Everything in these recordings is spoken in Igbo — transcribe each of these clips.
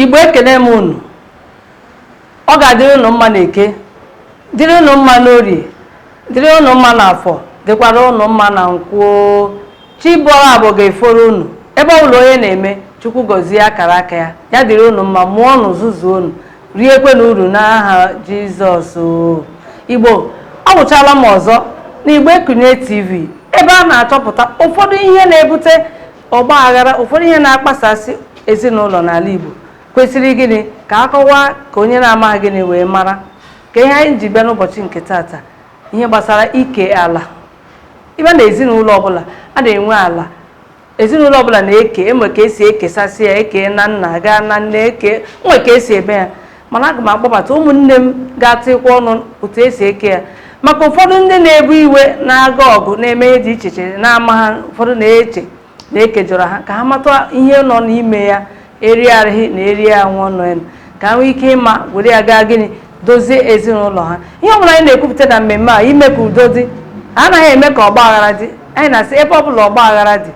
igbo ekene m unu ọ ga-adịrị ụnụ mma na eke dịrị ụnụ mma n'orie dịrị ụnụ mma n'afọ dịkwara ụnụ mma na nkwọ chi bọrọ abọ ga-eforo ụnụ ebe ọ bụla onye na-eme chukwu gọzie akara aka ya ya dịrị ụnụ mma mụọnụ zụzuonụ riekwenụ uru n'aha Jizọs o. Igbo awụchala m ọzọ n'Igbo Ekunie TV ebe a na-achọpụta ụfọdụ ihe na-ebute ọgba aghara ụfọdụ ihe na-akpasasị ezinụlọ n'ala Igbo kwesịrị gịnị ka a kọwaa ka onye na-amaghị gịnị wee mara ka ihe anyị ji bịa n'ụbọchị nke tata ihe gbasara ike ala ị bịa na ezinụlọ ọbụla a na-enwe ala ezinụlọ ọbụla na-eke e nwe ka esi ekesasị ya e kee na nna gaa na nne e nwe ka esi eme ya mana aga m akpọbata ụmụnne m ga-atịkwa ọnụ otu esi eke ya maka ụfọdụ ndị na-ewe iwe na-aga ọgụ na-eme ihe dị iche iche na-amaha ụfọdụ na-eche na e kejọrọ ha ka ha mata ihe nọ n'ime ya eri arịghị na eri ya nwa ọnụ ya ka ha nwee ike ịma were ya gaa gịnị dozie ezinụlọ ha ihe ọbụla anyị na-ekwupụta na mmemme a ime ka udo dị anaghị eme ka ọgba aghara dị anyị na-asị ebe ọbụla ọgba aghara dị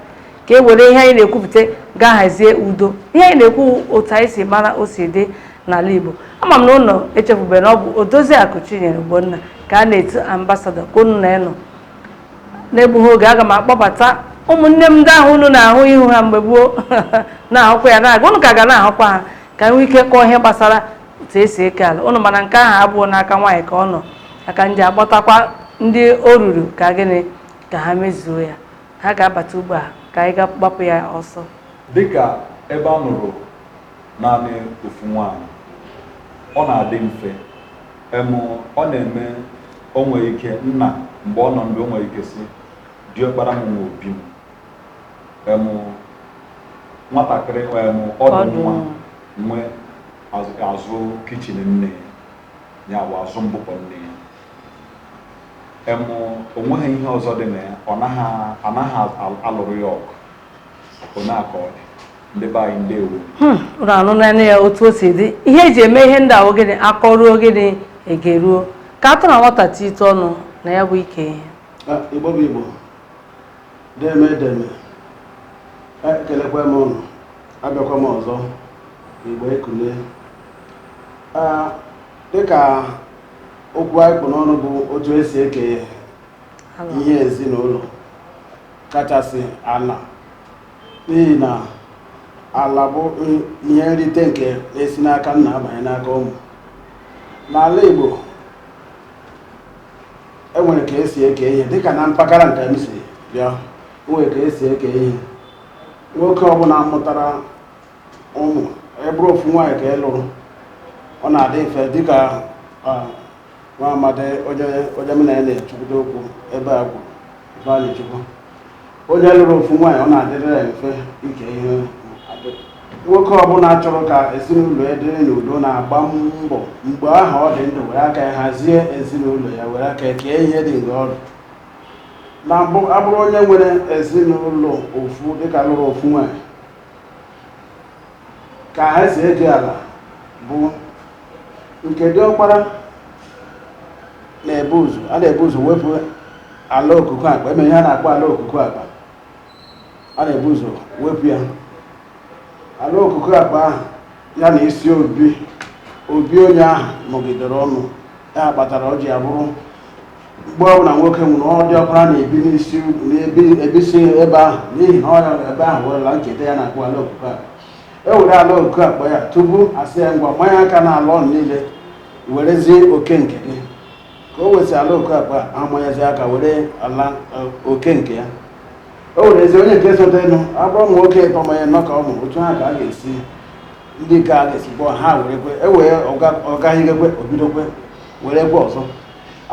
ka e were ihe anyị na-ekwupụta gaa hazie udo ihe anyị na-ekwu otu anyị si mara o si dị n'ala Igbo ama m na unu echefubeghị na ọ bụ Odoziakụ Chinyere Ogbonna ka a na-etu ambasadọ ka unu na ya nọ n'egbughị oge aga m akpọbata ụmụnne m ndị ahụ unu na-ahụ ihu ha mgbe gboo na-ahụkwa ya na-aga unu ka ga na-ahụkwa ha ka e nwee ike kọọ ihe gbasara otu esi eke ala ụnọ mana nke ahụ abụhọ n'aka nwaanyị ka ọ nọ ya ka m ji akpọtakwa ndị o ruru ka gịnị ka ha mezuo ya ha ga-abata ugbu a ka anyị gbapụ ya ọsọ dịka ebe a nụrụ naanị ofu nwaanyị ọ na-adị mfe Em, ọ na-eme o nwere ike nna mgbe ọ nọ ndụ o nwere ike sị diọkpara m nwe obi m em nwatakịrị em ọdụ nwa nwe azụ- azụ kichin nne ya ya bụ azụ mkpuke nne ya em o nweghị ihe ọzọ dị na ya anaghị alụrụ ya ọgụ ndị be anyị ndewo hmm, unu anụnanụ ya otu o si dị ihe eji eme ihe ndị a wụ gịnị a kọruo gịnị e geruo ka atụ na nwata ti ite ọnụ na ya bụ ike ihe ah, igbo bụ igbo deme deme ekelekwa m ụnụ abịakwa m ọzọ Igbo Ekunie ah, dịka okwu anyị kpụ n'ọnụ bụ otu esi eke ihe ezinụlọ kachasị ala n'ihi na ala bụ ihe nrite nke na-esi n'aka nna abanye n'aka ụmụ n'ala Igbo enwere ka esi eke ihe dịka na mpaghara nke m si bịa enwere ka esi eke ihe nwoke ọbụla mụtara ụmụ ya bụrụ ofu nwaanyị ka ị lụrụ ọ na-adị mfe dịka nwa amadi onye onye m na ya na-achịkọta okwu ebe a bụ Ifeanyịchukwu onye lụrụ ofu nwaanyị ọ na-adịrị ya mfe ike ihe nwoke ọbụla chọrọ ka ezinụlọ ya dịrị n'udo na-agba mbọ mgbe ahụ ọ dị ndụ were aka ya hazie ezinụlọ ya were aka ya kee ihe dị mgbe ọ dị ndụ ya bụrụ onye nwere ezinụlọ ofu dịka lụrụ ofu nwaanyị ka esi eke ala bụ nke diọkpara na-ebu ụzọ a na-ebu ụzọ wepụ ala okuku akpa enwere ihe a na-akpọ ala okuku akpa a na-ebu ụzọ wepụ ya ala okuku akpa ahụ ya na isi obi obi onye ahụ nọgidere ọ nwụọ ya kpatara o ji abụrụ mgbe ọbụla nwoke nwụrụ ọ diọkpara na-ebi n'isi obi na-ebi ebisi ebe ahụ n'ihi na ọ ya ebe ahụ were ala ncheta ya na-akpọ ala okuku akpa e were ala okuku akpa ya tupu asị ya ngwa manye aka n'ala unu niile werezie oke nke gị ka o wesị ala okuku akpa amanyezi aka were ala oke nke ya o werezie onye nke sotenụ ya bụrụ ụmụ nwoke ịtọ ma ọ bụ ịnọ ka ọ mụrụ otu ahụ ka a ga-esi ndị ka a ga-esi kpọọ ha werekwe e wee ọ gagidekwe o bidokwe werekwe ọzọ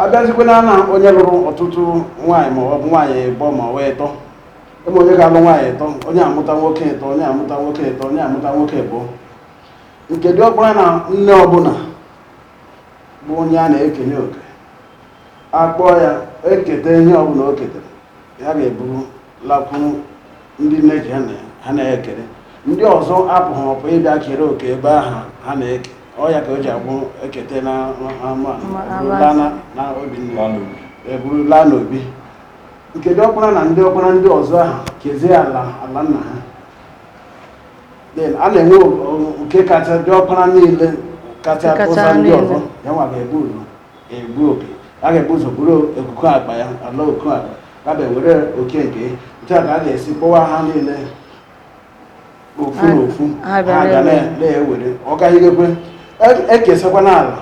abịazikwena na onye lụrụ ọtụtụ nwaanyị ma ọ bụ nwaanyị ịbọ ma ọ wee ịtọ ebe onye ga-alụ nwaanyị ịtọ onye amụta nwoke ịtọ onye amụta nwoke ịtọ onye amụta nwoke ịbụ nke dị ọkpara na nne ọbụla bụ onye a na-ekenye oke akpọọ ya eketa ihe ọbụla o ketere ya ga-eburu lakwuru ndị nne ji ha na ya ekere ndị ọzọ apụghị ọpụ ịbịa kere oke ebe ahụ ha na-eke ọ ya ka o ji abụ ekete n'ama eburu laa n'obi nne eburu laa n'obi nke diọkpara na ndị ọkpara ndị ọzọ ahụ kezie ala ala nna ha then a na-enwe nke kacha diọkpara niile kacha tọsa ndị ọzọ ya nwa ga-ebu ụzọ ebu oke ya ga-ebu ụzọ buru okuku akpa ya ala okuku akpa ya bịa were oke nke ya. otu a ka a ga-esi kpọwa ha niile ofu na ofu ha na-ewere ọ gagidekwe ekesakwa n'ala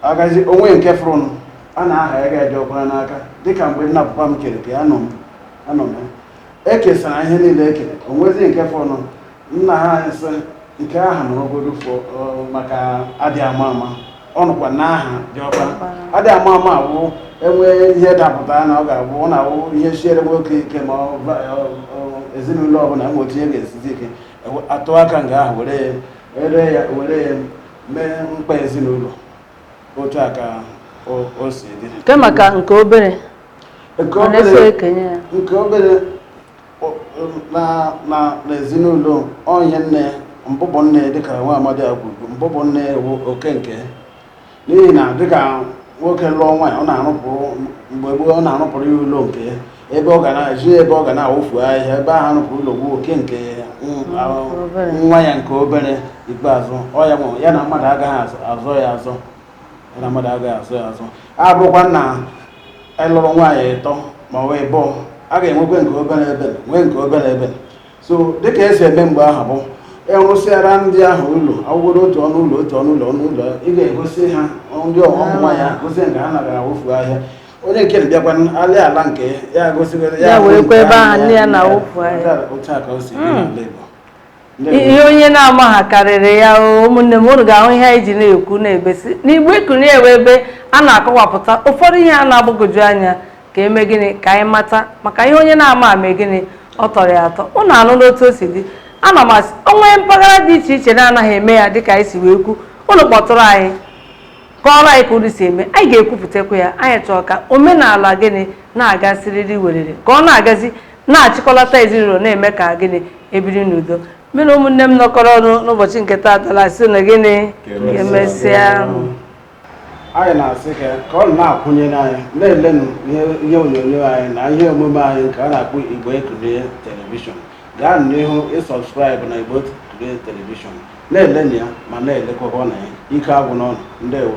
agazi o nwee nke fọrọnụ a na-aha ya diọkpara n'aka dịka mgbe nna papa m kere nke ya nọ m anọ m ya ekesara ihe niile ekere o nwezi nke fọrọnụ nna anyị sị nke ahụ na ogodo fọ ọ, maka adị ama ama ọ nọkwa n'aha diọkpa adị ama ama awụ enwee ihe dapụta na ọ ga-abụ ọ na-awụ ihe siere nwoke ike ma ọ ba- ọ- ọ- ezinụlọ ọbụla enwe otu ihe ga-esizi ike ewe- atụ aka nga ahụ were ya ere ya were ya mee mkpa ezinụlọ otu a ka o- o si dị nke maka nke obere nke ọ na-eso obere ekenye ya nke obere n'ezinụlọ onye nne mbụbọ nne dịka nwa amadị a kwuru mbụbọ nne wụ oke nke n'ihi na dịka nwoke lụọ nwaanyị ọ na-arụpụrụ mgbe gboo ọ na-arụpụrụ ya ụlọ nke ebe ọ ga na-eji ebe ọ ga na-awụfu ahịhịa ebe ahụ arụpụrụ ụlọ wụ oke nke nwa ya nke obere ikpeazụ ọ ya nwere ya na mmadụ agaghị azọ ya azọ ya na mmadụ agaghị azọ ya azọ abụrụkwa na anyị lụrụ nwaanyị ịtọ ma ọ wụ abụọ a ga-enwekwe nke obere ebe nwee nke obere ebe so dịka esi eme mgbe ahụ bụ ịrụsịara e ndị ahụ ụlọ awụgoro otu ọnụ ụlọ otu ọnụ ụlọ ọnụ ụlọ ị ga-egosi ha ndị ọghọm ah. nwa ya gosi nke ha na-aga awụfu ahịhịa onye nke bịakwa alị ala nke ya gosiri ya werekwa ebe ahụ nne ya na-awụfu ahịhịa otu a ka o si dị hmm. n'ala Igbo ihe onye na-amaghị karịrị ya ụmụnne m unu ga-ahụ ihe anyị ji na-ekwu na-ebesi n'Igbo Ekunie wụ ebe a na-akọwapụta ụfọdụ ihe a na-agbagwoju anya ka eme gịnị ka anyị mata maka ihe onye na-amaghị eme gịnị ọ tọrọ ya atọ ụnụ anụna otu o si dị ana m asị o nwee mpaghara dị iche iche na-anaghị eme ya dịka anyị si wee kwu ụnụ kpọtụrụ anyị kọọrọ anyị ka ụnụ si eme anyị ga-ekwupụtakwa ya anyị chọọ ka omenala gịnị na-aga siriri werere ka ọ na-agazi na-achịkọlata ezinụlọ na-eme ka gịnị e biri n'udo mụ na ụmụnne m nọkọrọ ọnụ n'ụbọchị nke taata na-asị na gịnị emesịa anyị na-asị ka ka unu na-akwụnyere anyị na-elenụ ihe ihe onyonyo anyị na ihe omume anyị nke a na-akpọ Igbo Ekunie telivishọn gaa n'ihu ị subscribe na Igbo Ekunie telivishọn na-elenụ ya ma na-elekwakwa na ya ike agwụna unu ndewo